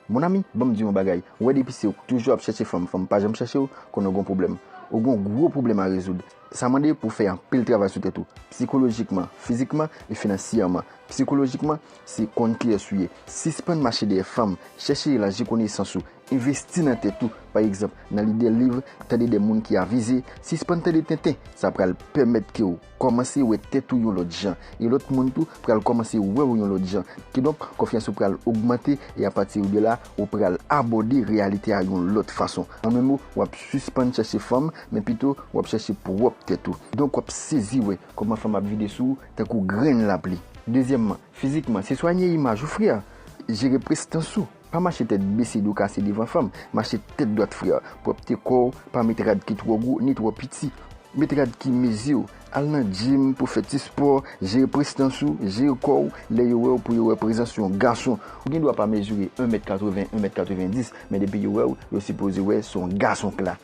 Mon ami, banm diw yon bagay, ou wè depi se ou k toujou ap chèche fanm, fanm pa janm chèchew, konnen ou gen yon pwoblèm. Ou gen yon gwo pwoblèm a rezoud. Sa mande pou w fè anpil travay sou tèt ou, psikolojikman, fizikman e finansyèman. Psikolojikman, se konn kiyès ou ye, sispann mache dèyè fanm, chèche elaji konesans ou, envesti nan tèt ou, pa egzanp, nan li de liv, tande de moun ki avize, sispann tande tenten, sa pral pèmèt ke w. kòmanse wè tèt ou yon lòt jan, e lòt moun tou pral kòmanse wè ou yon lòt jan. Kidonk, konfyans ou pral ogmante, e apati de la, ou pral abòde reyalite a yon lòt fason. An menm mo, w ap sispann chèche fanm, men pito, w ap chèche pwòp tèt ou. Donk, w ap sezi wè kòman fanm ap vide sou ou tankou grenn lapli. Dezyèmman, fizikman, se swanye imaj ou frè, jere prestans ou. Pa mache tèt bese do kase devan fanm, mache tèt dwat frè. Pwòpte kò w, pa met rad ki twò gwo ni twò piti. Met rad ki mezi w. Al nan djim pou fè ti spò, jere prestans ou, jere kò w, lè yo wè w pou yo wè prezans yon gason. Ou gen dwa pa mezire 1 mèt 80, 1 mèt 90, men depi yo wè w, yo sipoze wè se yon gason k la.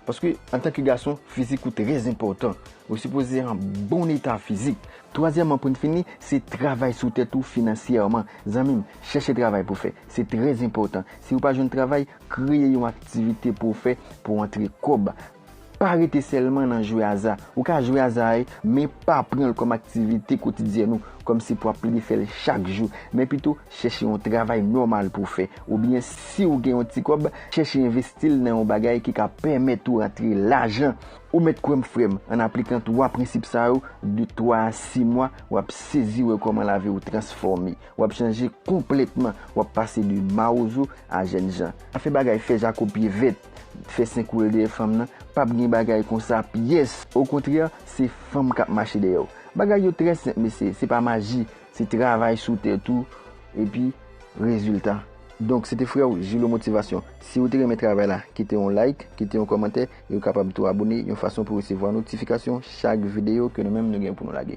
Paske antanke gason, fizik ou trèzenpòtan. Ou sipoze an bon eta fizik. Twazyèman poun fini, se travay sou tèt ou finansyèman. Zanmim, chèche travay pou fè. Se trè enpòtan. Si ou pa jwenn travay, kreye yon aktivite pou ou fè pou antre kòb. Pa rete sèlman nan jwe aza. Ou ka jwe aza a, men pa pranl kòm aktivite kotidyèn ou, kòm si pou ap plede fèl chak jou. Men pito, chèche yon travay nòmal pou fè. Oubyen siw gen yon ti kòb, chèche envestil nan yon bagay ki ka pèmèt ou antre lajan. Ou mèt kwè m frè m, an aplikan 3 prensip sa yo, de 3 a 6 mwa, w ap sezi wè kòman lavi w transfòme. W ap chanje konplètman, w ap pase de mawozo a jèn jan. Pa fè bagay fè jako pye vèt, fè sen koure dèyè fanm nan, p ap gen bagay konsa pyès! Okontrè, se fanm k ap mache dèyè w. Bagay yo trè senp mesye, se pa maji, se travay sou tèt ou epi rezilta. Donk se te frè w Julo Motivation. Si ou te renmen travay la, kite yon like, kite yon kòmantè Yo kapab tou abone yon fason pou resevwa notifikasyon chak videyo ke nou menm nou gen pou nou lage.